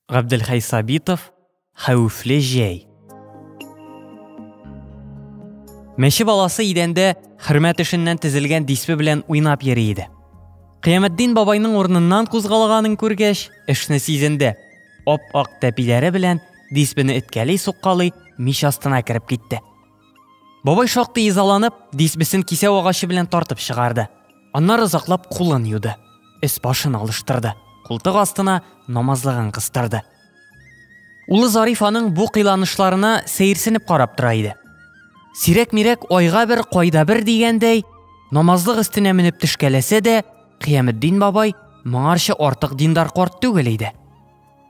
Габделхәй Сабитов Хәвефле җәй Мәче баласы идәндә хөрмәт эшеннән тезелгән диспе белән уйнап йөри иде. Кыяметдин бабайның урыныннан кузгалганын күргәч, эшне сизенде. Ап-ак тәпиләре белән диспене эткәли-суккалый мич астына кереп китте. Бабай шактый изаланып, дисбесен кисәү агачы белән тартып чыгарды. Аннары озаклап кулын юды. Эс башын алыштырды. Култык астына намазлыгын кыстырды. Улы Зариф аның бу кыйланышларына сәерсенеп карап тора иде. Сирәк-мирәк айга бер, кайда бер дигәндәй, намазлык өстенә менеп төшкәләсә дә, Кыяметдин бабай моңарчы артык диндар карт түгел иде.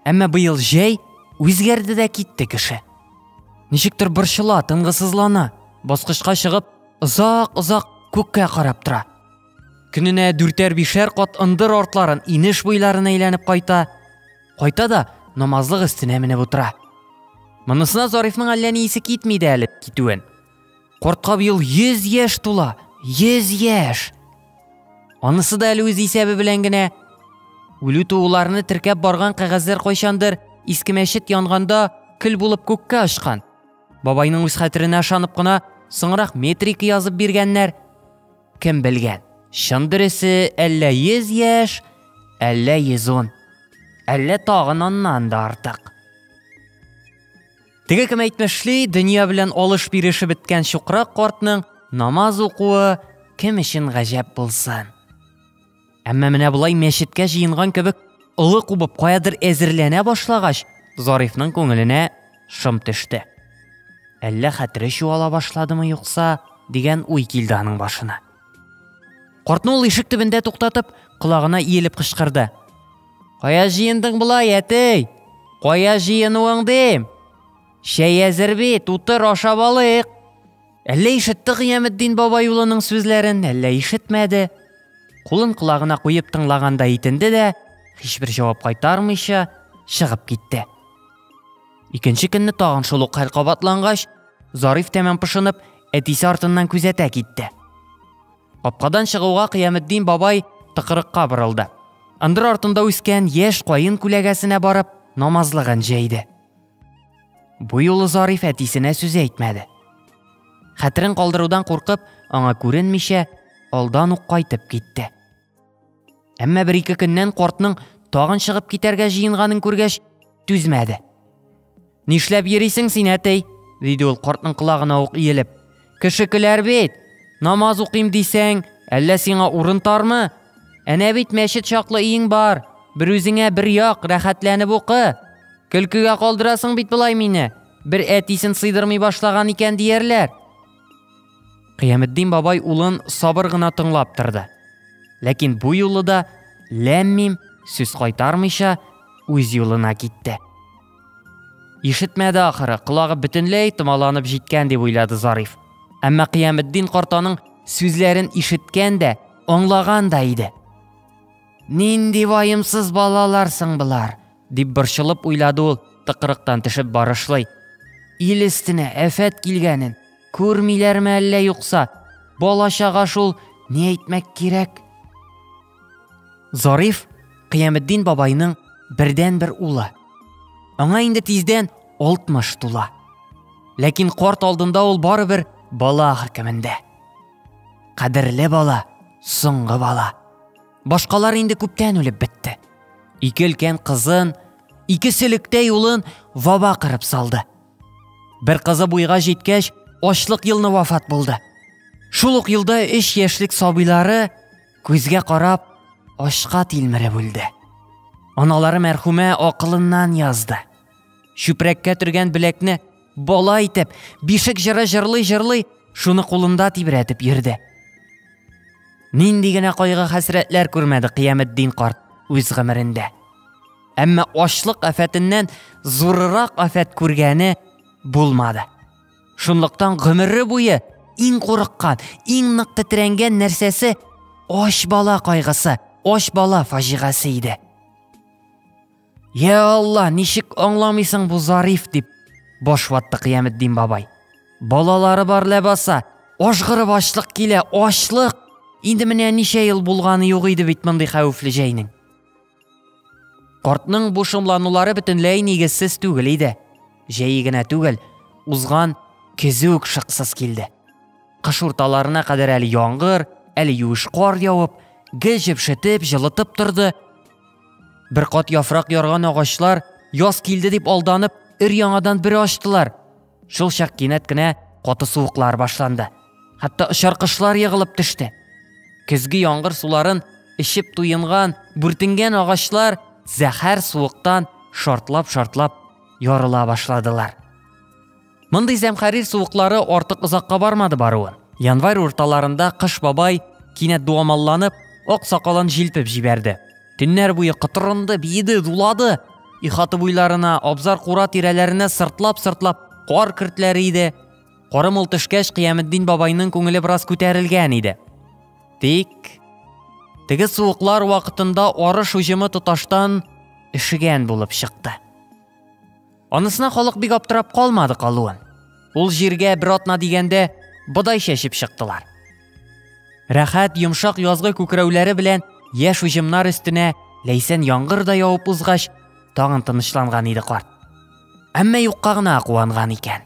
Әмма быел җәй үзгәрде дә китте кеше. Ничектер борчыла, тынгысызлана, баскычка чыгып, озак-озак күккә карап тора. Көненә дүртәр-бишәр кат ындыр артларын инеш буйларын әйләнеп кайта, кайта да намазлык өстенә менеп утыра. Монысына Зарифның әллә ни исе китми дә әле китүен. Кортка быел 100 яшь тула. 100 яшь. Анысы да әле үз исәбе белән генә. Үлү тууларны теркәп барган кәгазьләр кайчандыр иске мәчет янганда көл булып күккә очкан. Бабайның үз хәтеренә ышанып кына соңрак метрик язып биргәннәр. Кем белгән? Чын дөресе әллә 100 яшь, әллә 110. Әллә тагын аннан да артык. Теге кем әйтмешли, дөнья белән алыш биреше беткән чукрак картның намаз укуы кем өчен гаҗәп булсын. Әмма менә болай мәчеткә җыенган кебек олы кубып каядыр әзерләнә башлагач, Зарифның күңеленә шым төште. Әллә хәтере чуала башладымы юкса, дигән уй килде аның башына. Картны ул ишек төбендә туктатып, колагына иелеп кычкырды. Кая җыендың болай, әтей? Кая җыенуың дим? Чәй әзер бит, утыр ашап алыйк. Әллә ишетте Гыяметдин бабай улының сүзләрен, әллә ишетмәде. Кулын колагына куеп тыңлаганда итенде дә, һичбер җавап кайтармыйча, чыгып китте. Икенче көнне тагын шул ук хәл кабатлангач, Зариф тәмам пошынып, әтисе артыннан күзәтә китте. Капкадан чыгуга Кыяметдин бабай тыкрыкка борылды. Ындыр артында үскән яшь каен күләгәсенә барып, намазлыгын җәйде. Бу юлы Зариф әтисенә сүз әйтмәде. Хәтерен калдырудан куркып, аңа күренмичә, алдан ук кайтып китте. Әмма бер ике көннән кортның тагын чыгып китәргә җыенганын күргәч, түзмәде. Нишләп йөрисең син, әтей? диде ул кортның колагына ук иелеп. Кеше көләр бит. Намаз укыйм дисәң, әллә сиңа урын тармы? Әнә бит мәчет чаклы өең бар. Бер үзеңә бер як, рәхәтләнеп укы. Көлкегә калдырасың бит болай мине. Бер әтисен сыйдырмый башлаган икән диярләр. Кыяметдин бабай улын сабыр гына тыңлап торды. Ләкин бу юлы да ләммим сүз кайтармыйча үз юлына китте. Ишетмәде ахыры, колагы бөтенләй томаланып җиткән дип уйлады Зариф. Әмма Кыяметдин картаның сүзләрен ишеткән дә, аңлаган да иде. Нинди ваемсыз балаларсың болар, Дип борчылып уйлады ул, тыкрыктан төшеп барышлый. Ил өстенә әфәт килгәнен күрмиләрме әллә юкса? Бала чага шул, ни әйтмәк кирәк? Зариф Кыяметдин бабайның бердән бер улы. Аңа инде тиздән 60 тула. Ләкин корт алдында ул барыбер бала хөркемендә. Кадерле бала, соңгы бала. Башкалар инде күптән үлеп бетте. Ике өлкән кызын, ике селектә юлын ваба кырып салды. Бер кызы буйга җиткәч, ачлык елны вафат булды. Шул ук елда 3 яшьлек сабыйлары күзгә карап ашка тилмереп үлде. Аналары мәрхүмә акылыннан язды. Чүпрәккә төргән беләкне Бала итеп, бишек җыры җырлый-җырлый, шуны кулында тибрәтеп йөрде. Нинди генә кайгы хәсрәтләр күрмәде Кыяметдин карт үз гомерендә. Әмма ачлык афәтеннән зурырак афәт күргәне булмады. Шунлыктан гомере буе иң курыккан, иң нык тетрәнгән нәрсәсе ач бала кайгысы, ач бала фаҗигасе иде. Я Алла, ничек аңламыйсың бу Зариф дип баш ватты Кыяметдин бабай. Балалары бар ләбаса, ашгырып ачлык килә, ачлык. Инде менә ничә ел булганы юк иде бит мондый хәвефле җәйнең. Кортның бу шомланулары бөтенләй нигезсез түгел иде. Җәй генә түгел, узган көзе үк шыксыз килде. Кыш урталарына кадәр әле яңгыр, әле юеш кар явып, гел җепшетеп, җылытып торды. Бер кат яфрак ярган агачлар яз килде дип алданып, өр яңадан бер ачтылар. Шул чак кинәт кенә каты суыклар башланды. Хәтта очар кышлар егылып төште. Көзге яңгыр суларын эчеп туенган, бүртенгән агачлар зәһәр суыктан шартлап-шартлап ярыла башладылар. Мондый зәмхәрир суыклары артык озакка бармады баруын. Январь урталарында Кыш бабай кинәт дуамалланып, ак сакалын җилпеп җибәрде. Төннәр буе кытырынды, биеде, дулады. Ихаты буйларына, абзар кура тирәләренә сыртлап-сыртлап кар кертләре иде. Корым ул төшкәч, Кыяметдин бабайның күңеле бераз күтәрелгән иде. Тик теге суыклар вакытында арыш уҗымы тоташтан эшегән булып чыкты. Анысына халык бик аптырап калмады калуын. Ул җиргә бер атна дигәндә бодай чәчеп чыктылар. Рәхәт йомшак язгы күкрәүләре белән яшь уҗымнар өстенә ләйсән яңгыр да явып узгач, тагын тынычланган иде карт. Әмма юкка гына куанган икән.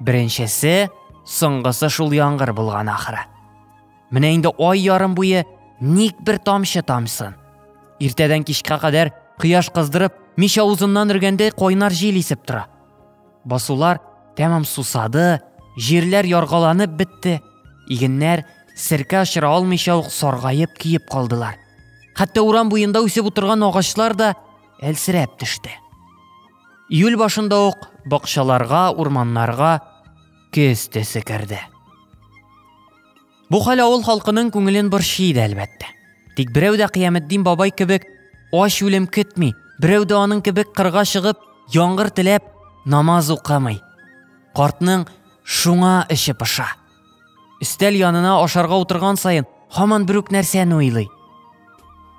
Беренчесе, соңгысы шул яңгыр булган ахыры. Менә инде ай ярым буе ник бер тамчы тамсын. Иртәдән кичкә кадәр кояш кыздырып, мич авызыннан өргәндәй кайнар җил исеп тора. Басулар тәмам сусады, җирләр яргаланып бетте. Игеннәр серкә очыра алмыйча ук саргаеп киеп калдылар. Хәтта урам буенда үсеп утырган агачлар да әлсерәп төште. Июль башында ук бакчаларга, урманнарга көз төсе керде. Бу хәл авыл халкының күңелен борчый иде, әлбәттә. Тик берәү дә Кыяметдин бабай кебек ач үлем көтми, берәү дә аның кебек кырга чыгып, яңгыр теләп, намаз укымый. Картның шуңа эче пыша. Өстәл янына ашарга утырган саен һаман бер үк нәрсәне уйлый.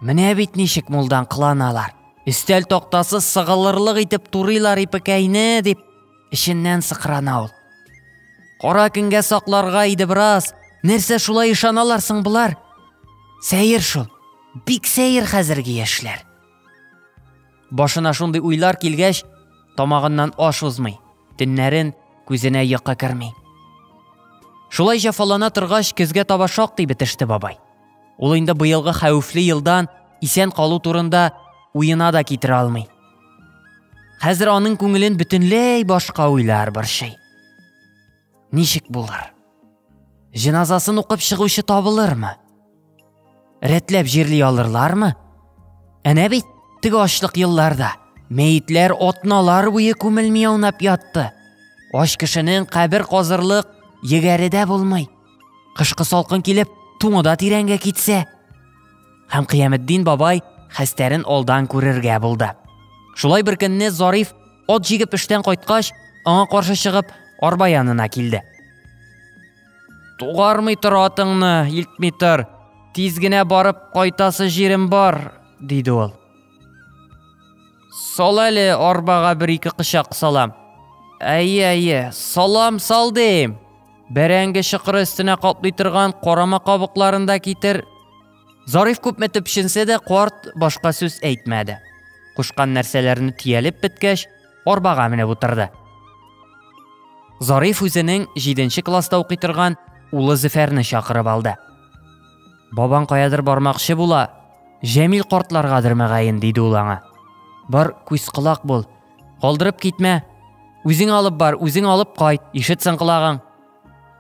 Менә бит ничек мулдан кыланалар. Өстәл тактасы сыгылырлык итеп турыйлар ипекәйне дип Эченнән сыкрана ул. Кара көнгә сакларга иде бераз. Нәрсә шулай ышаналар соң болар? Сәер шул. Бик сәер хәзерге яшьләр. Башына шундый уйлар килгәч, тамагыннан аш узмый. Төннәрен күзенә йокы керми. Шулай җафалана торгач, көзгә таба шактый бетеште бабай. Ул инде быелгы хәвефле елдан исән калу турында уена да китерә алмый. Хәзер аның күңелен бөтенләй башка уйлар борчый. Ничек булыр? Җеназасын укып чыгучы табылырмы? Рәтләп җирли алырлармы? Әнә бит теге ачлык елларда мәетләр отналар буе күмелми аунап ятты. Ач кешенең кабер казырлык егәре дә булмый. Кышкы салкын килеп, туңы да тирәнгә китсә. Һәм Кыяметдин бабай хәстәрен алдан күрергә булды. Шулай бер көнне Зариф от җигеп эштән кайткач, аңа каршы чыгып, арба янына килде. Тугармый тор атыңны, илтми тор. Тиз генә барып кайтасы җирем бар, диде ул. Сал әле арбага бер-ике кычак салам. Әйе, әйе, салам сал дим. Бәрәңге чыкыры өстенә каплый торган карама кабыкларын да китер. Зариф күпме төпченсә дә карт башка сүз әйтмәде. Кушкан нәрсәләрне тиялеп беткәч, арбага менеп утырды. Зариф үзенең 7 класста укый торган улы Зөфәрне чакырып алды. Бабаң каядыр бармакчы була. Җәмил картларгадыр мәгаен, диде ул аңа. Бар, күз колак бул. Калдырып китмә. Үзең алып бар, үзең алып кайт, ишетсен колагың.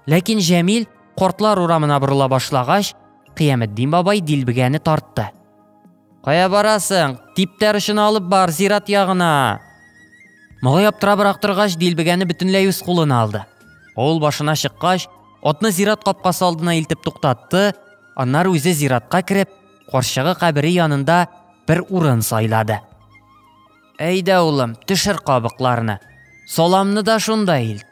Ләкин Җәмил кортлар урамына борыла башлагач, Кыяметдин бабай дилбегәне тартты. Кая барасың? Типтәр өчен алып бар, зират ягына. Могай аптырабрак торгач, дилбегәне бөтенләй үз кулына алды. Ул башына чыккач, атны зират капкасы алдына илтеп туктатты, аннары үзе зиратка кереп, карчыгы кабере янында бер урын сайлады. Әйдә, улым, төшер кабыкларны. Саламны да шунда ил.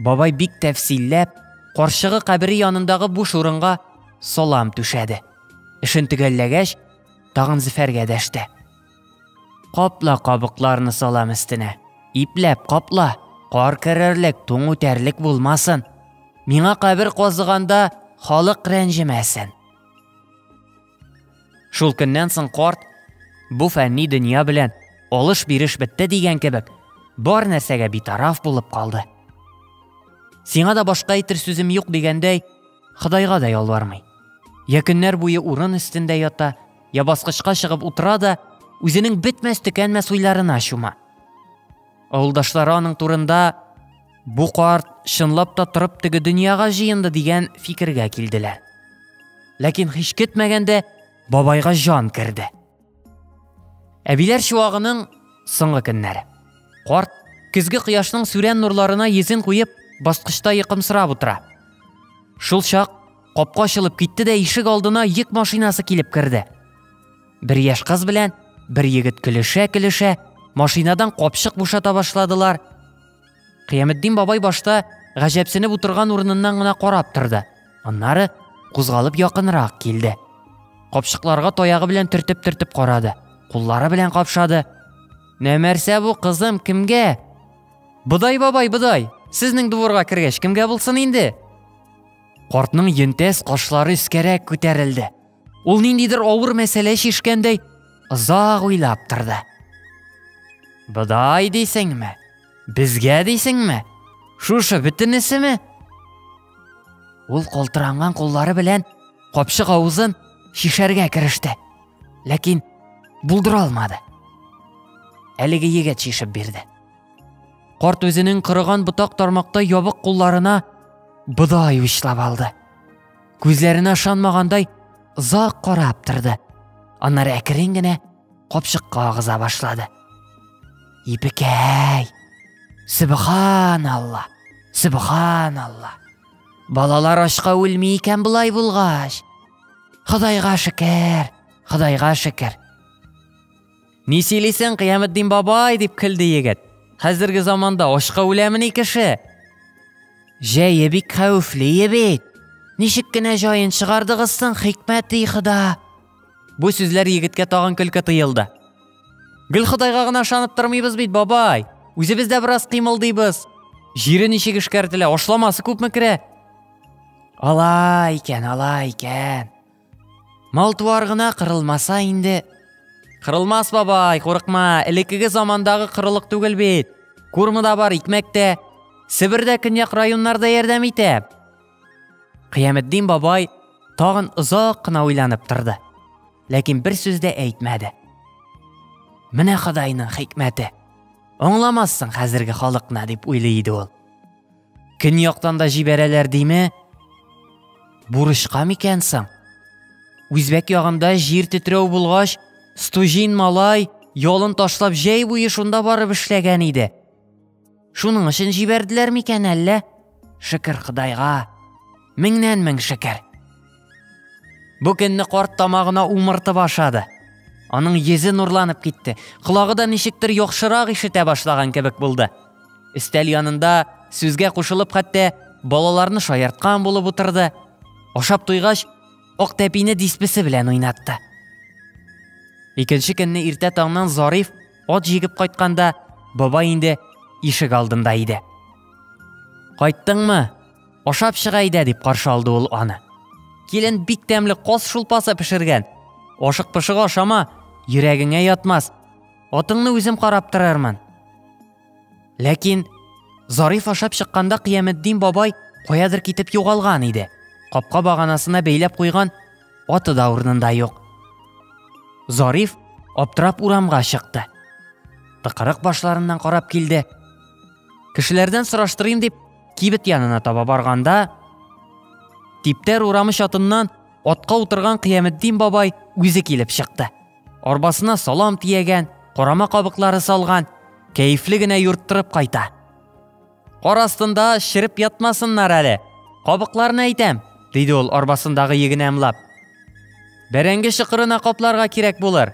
Бабай бик тәфсилләп, карчыгы кабере янындагы буш урынга салам түшәде. Эшен төгәлләгәч, тагын Зөфәргә дәште. Капла кабыкларны салам өстенә. Ипләп капла, кар керерлек, туң үтәрлек булмасын. Миңа кабер казыганда халык рәнҗемәсен. Шул көннән соң карт бу фәнни дөнья белән алыш-биреш бетте дигән кебек, бар нәрсәгә битараф булып калды. Сиңа да башка әйтер сүзем юк дигәндәй, Ходайга да ялвармый. Я көннәр буе урын өстендә ята, я баскычка чыгып утыра да, үзенең бетмәс-төкәнмәс уйларына чума. Авылдашлары аның турында бу карт чынлап та торып теге дөньяга җыенды дигән фикергә килделәр. Ләкин һич көтмәгәндә бабайга җан керде. Әбиләр чуагының соңгы көннәре. Карт көзге кояшның сүрән нурларына йөзен куеп, баскычта йокымсырап утыра. Шул чак капка ачылып китте дә ишек алдына йөк машинасы килеп керде. Бер яшь кыз белән бер егет көлешә-көлешә, машинадан капчык бушата башладылар. Кыяметдин бабай башта гаҗәпсенеп утырган урыныннан гына карап торды. Аннары кузгалып якынрак килде. Капчыкларга таягы белән төртеп-төртеп карады. Куллары белән капшады. Нәмәрсә бу кызым кемгә? Бодай бабай, бодай, сезнең дворга кергәч кемгә булсын инде? Картның йөнтәс кашлары өскәрәк күтәрелде. Ул ниндидер авыр мәсьәлә чишкәндәй озак уйлап торды. Бодай дисеңме? Безгә дисеңме? Шушы бөтенесеме? Ул калтыранган куллары белән капчык авызын шишәргә кереште. Ләкин булдыра алмады. Әлеге егет шишеп бирде. Карт үзенең кырыган ботак тармакта ябык кулларына бодай учлап алды. Күзләренә ышанмагандай озак карап торды. Аннары әкрен генә капчыкка агыза башлады. Ипекәй! Субханалла! Субханалла! Балалар ашка үлми икән болай булгач. Ходайга шөкер, Ходайга шөкер. Ни сөйлисең, Кыяметдин бабай, дип көлде егет. Хәзерге заманда ачка үләмени кеше? Җәе бик хәвефле бит. Ничек кенә җаен чыгардыгыз соң, хикмәти Хода? Бу сүзләр егеткә тагын көлке тыелды. Гел Ходайга гына ышанып тормыйбыз бит, бабай. Үзебез дә бераз кыймылдыйбыз. Җире ничек эшкәртелә, ашламасы күпме керә? Алай икән, алай икән. Малтуар гына кырылмаса инде. Кырылмас бабай, курыкма, элеккеге замандагы кырылык түгел бит. Курмы да бар, икмәк тә. Себердә көньяк районнарда ярдәм итә. Кыяметдин бабай тагын озак кына уйланып торды. Ләкин бер сүз дә әйтмәде. Менә Ходайның хикмәте. Аңламассың хәзерге халыкны, дип уйлый иде ул. Көньяктан да җибәрәләр диме? Бурычка микән соң? Үзбәк ягында җир тетрәү булгач, Стужин малай ялын ташлап җәй буе шунда барып эшләгән иде. Шуның өчен җибәрделәр микән әллә? Шөкер Худайга. Меңнән мең шөкер. Бу көнне карт тамагына умыртып ашады. Аның йөзе нурланып китте. Колагы да ничектер яхшырак ишетә башлаган кебек булды. Өстәл янында сүзгә кушылып хәтта балаларны шаярткан булып утырды. Ашап туйгач, ак тәпине диспесе белән уйнатты. Икенче көнне иртә таңнан Зариф ат җигеп кайтканда, бабай инде ишек алдында иде. Кайттыңмы? Ашап чыга идә, дип каршы алды ул аны. Килен бик тәмле каз шулпасы пешергән. Ашык пышык ашама, йөрәгеңә ятмас. Атыңны үзем карап торармын. Ләкин Зариф ашап чыкканда Кыяметдин бабай каядыр китеп югалган иде. Капка баганасына бәйләп куйган аты да урынында юк. Зариф аптырап урамга чыкты. Тыкырык башларыннан карап килде. Кешеләрдән сораштырыйм дип, Кибет янына таба барганда, Типтәр урамы чатыннан атка утырган Кыяметдин бабай үзе килеп чыкты. Арбасына салам тиягән, корама кабыклары салган, кәефле генә юрттырып кайта. Кар астында шереп ятмасыннар әле. Кабыкларны әйтәм, диде ул арбасындагы егене ымлап. Бәрәңге шыкырына капларга кирәк булыр.